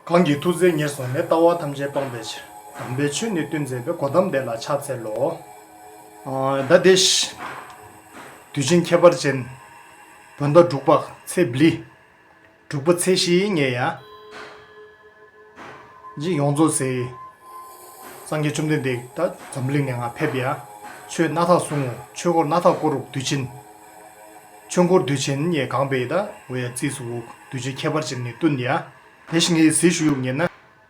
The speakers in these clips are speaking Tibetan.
གང་གི་ཐུགས་རྗེ་ངེས་བཟུང་ནས་ལྟ་བ་ཐམས་ཅད་སྤངས་པའི་ཕྱིར་དམ་པའི་ཆོས་ནི་བསྟོད་མཛད་པའི་སྒོ་ཐམས་བདེ་ལ་ཕྱག་འཚལ་ལོ། བདག་དེ་བཞིན་དུ་བྱིན་ཁྱད་པར་ཅན། བོད་མདོ་འབྲུག་པ་ཚེ་འབིལ། དྲུག་པ་ཚེས་བཞིའི་ཉེ་ཡ། འདི་ཡོངས་རྫོགས་ཚེ། སངས་རྒྱས་བཅོམ་ལྡན་འདས་ད་འཛམ་བུ་གླིང་ནས་འང་ཕེབས་ཡ། ཆོས་སྣ་ཐག་གསུང་ངོ་ཆོས་འཁོར་སྣ་ཐག་བསྐོར་འུག་དུས་ཆེན། ཆོས་འཁོར་དུས་ཆེན་ཡས་གང་པའི་ད་འོ་ཡ་རྩིས་སུ་འུག་དུས་ཆེན་ཁྱད་པར་ཅན་ནི་བསྟུན་ཡ། དེ་བཞིན་ངེད་ཡི་གཟིགས་ཞུ་ཡུག་ཉེར་ན།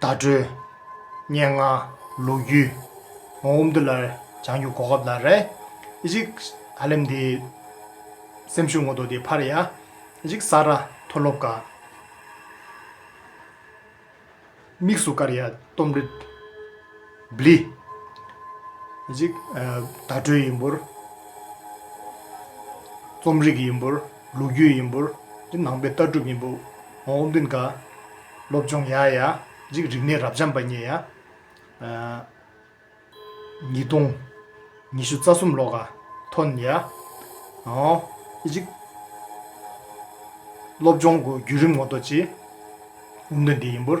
བརྡ་སྤྲོད། སྙན་ངག། ལོ་རྒྱུས། ངོ་བོ་འདི་ལ་བྱང་ཆུབ་གོ་སྐབས་ལ་རེ། གཞིག། ཧ་ལམ་འདི། སེམས་ཤུགས་ངོ་ཐོག་འདི་ཕར་ཡ། གཞིག། ས་ར། མཐོ་སློབ་ཀ། དམིགས་སུ་བཀར་ཡ། རྟོམ་རི། བསླི། འཇིག། བརྡ་སྤྲོད་ཡིན་པོར། རྩོམ་རིག་ཡིན་པོར། ལོ་རྒྱུས་ཡིན་པོར། འདི་ནང་པའི་ལྟ་གྲུབ་ཡིན་པོ། ཨོ་བྷིན་ག། སློབ་སྦྱོང་ཡ་ཡ། འཇིག་རིག་གནས་རབ་འབྱམས་པ་ཉེ་ཡ། ཉིས་སྟོང། ཉི་ཤུ་རྩ་གསུམ་ལོ་ག། ཐོན་ཡ། ཨོ། འཇིག། སློབ་སྦྱོང་གི་བརྒྱུད་རིམ་ངོ་ཐོག་ཅི། འུར་འདོན་འདི་ཡིན་པོར།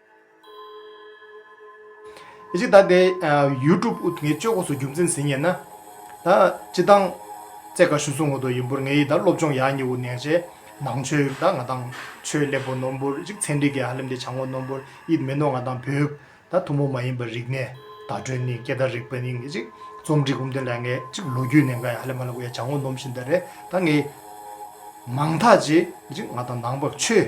ཅི་ལྟར་དེ YouTube ངས་སྤྱོད་གོ་སོ་རྒྱུ་མཚན་ཟིན་ངེས་ན། ད་ཅི་དང། རྩེ་དགའ་ཞུ་སུ་ངོ་ཏོ་ཡིན་འབུར་ངའི་ད་སློབ་སྦྱོང་ཡག་ཉེ་བོ་ནས་རྗེས་ནང་ཆོས་ད་ང་དང་ཆོས་ལེགས་པོ་ནོ་འབུར་རིག་ཚན་འདི་གས་ཧ་ལེམ་དེ་བྱང་ངོ་ནོ་འབུར་ཡིད་མི་ནོ་ང་དང་བོད་ད་ཐུ་མོ་མ་ཡིན་པ་རིག་ནས་ད་སྒྲོན་ནི་སྐད་ད་རིག་པ་ནི་ངས་ཅིག་རྩོམ་བྲིས་གོམ་དེ་ལ་ངས་ཅིག་ལོ་རྒྱུས་ནས་ང་ཡང་ཧ་ལེ་མ་ལེ་གོ་ཡ་བྱང་ངོ་ནོམ་བཞིན་ད་རེད་ད་ངས་མང་ཐག་རྗེས་ཅིག་ང་དང་ནང་པ་ཆོས།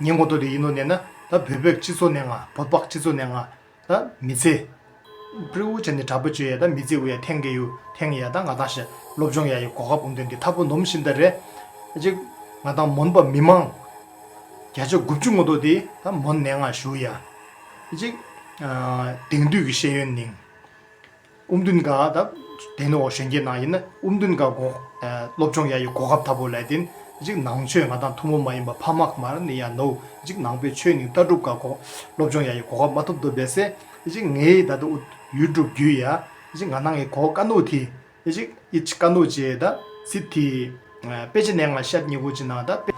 ཉེས་འགོག་ཏུ་དེ་ཡིན་ནོ་ནས་ན། ད་བོད་པའི་སྤྱི་ཚོགས་ནས་ང། བོད་པག་སྤྱི་ཚོགས་ནས་ང། ད་མི་ཚེ། པྲི་འུ་ཅན་ནས་དྲག་པོ་བཅོས་ཡས་ད་མི་ཚེ་འུ་ཡ་ཐེང་གེ་ཡུ། ཐེང་གེ་ཡ་ད་ང་ད་ཤི། སློབ་སྦྱོང་ཡ་ཡི་གོ་ཁ་བུང་དོན་དེ་ཐ་པོ་ནོམ་ཤིན་ད་རེ། གཅིག། ང་ད་མོན་པ་མི་མང། བརྒྱ་ཆ་དགུ་བཅུ་ངོ་ཏོ་དེ་ད་མོན་ནས་ང་ཞུ་ཡ། གཅིག། དེང་དུས་ཀྱི་ཤེས་ཡོན་ནིང། དབུ་མདུན་དགའ་དང། དེ་ནི་འོ་གཞོན་རྒྱལ་ནང་ཡིན་ན་དབུ་མདུན་དགའ་གོ། སློབ་སྦྱོང་ཡ་ཡི་གོ་སྐབས་ད་བོ་ལས་དེ། འཇིག་ནང་ཆོས་ང་དང་ཐུ་མོ་མ་ཡིན་པ་ཕ་མག་མར་ནི་ཡ་ནོ། འཇིག་ནང་པའི་ཆོས་ནིང་ལྟ་གྲུབ་དགའ་གོ། སློབ་སྦྱོང་ཡ་ཡི་གོ་སྐབས་མ་ཐོབ་དོ་བས་སེ། འཇིག་ངའི་ད་ད་འུ་ཡུལ་སྒྲུབ་རྒྱུ་ཡ། འཇིག་ང་ནང་ཡི་གོ་དཀའ་ནོ་དེ། འཇིག་ཨི་ཆི་དཀའ་ནོ་ཅེས་ད། སི་ཐི། དཔེ་ཆ་ནས་ང་ཤབ་སྙི་གོ་ཅི་ནང་ད་དཔེ།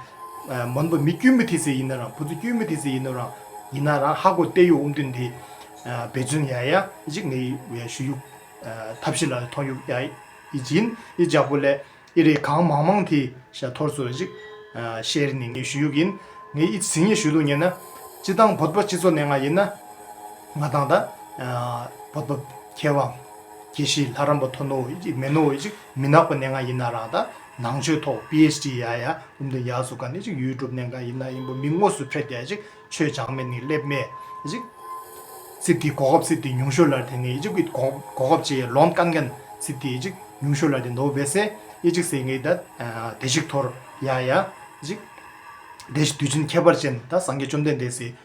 མོན་པོ་མི་དཀྱུས་མི་ཐི་སི་ཡིན་ན་རང་བུ་ཚོ་དཀྱུས་མི་ཐི་སི་ཡིན་ནོ་རང། ཡིན་ན་རང་ཧ་གོ་བལྟས་ཡོ་འུམ་དུན་དེ། བེ་ཅུན་ཡ་ཡ། ཅིག་ནི་བའི་ཞུ་ཡུག། ཐབས་ཤི་ལ་ཐོང་ཡུག་ཡ། ཡི་ཅིན་ཡི་ཇག་པོ་ལེ། ཡི་རི་གང་མང་མང་དྷི་ཤ་ཐོར་སོ་ཅིག། ཤེ་རི་ནི་ངའི་ཞུ་ཡུག་ཡིན། ངའི་ཡི་ཅི་སི་ངའི་ཞུ་ལུག་ཉན་ན། ཅི་ཏང་བོད་པ་སྤྱི་ཚོ་ནས་ང་ཡིན་ན། ང་ཏང་ད། བོད་པ། ཁྱེད་བ། ཁྱེད་ཤི་ལྷ་རམ་པ་ཐོ་ནོ་ཡི་ཅིག་མེ་ནོ་ཡི་ཅིག། མི་ནག་པ་གནས་ང་ཡིན་ན་རང་ད་ནང་ཆོས་ཐོག PHD ཡ་ཡ་ཀུམ་དུ་ཡག་སུ་ག་ནས་ཅིག་ཡུལ་གྲུབ་གནས་གང་ཡིན་ན་ཡིན་པོ་མི་དངོས་སུ་ཕེབས་རྒྱ་ཅིག་ཆོས་བྱང་མེད་ནི་སླེབས་མེད་ཅིག། སི་ཏི་གོ་ཁབ་སི་ཏི་ཉུང་ཤོས་ལར་དེ་ནི་ཅིག་གིས་གོ་ཁབ་ཅི་ཡེ་ལོན་ཀན་ཀན་སི་ཏི་ཅིག་ཉུང་ཤོས་ལར་དེ་མདོ་བེ་སེ་ཡེ་ཅིག་སེ་ངེ་ད་དེ་ཅིག་ཐོར་ཡ་ཡ་ཅིག། དེ་བཞི་དུས་ཆེན་ཁྱད་པར་ཅན་ད་སངས་རྒྱས་བཅོམ་ལྡན་འདས་སི།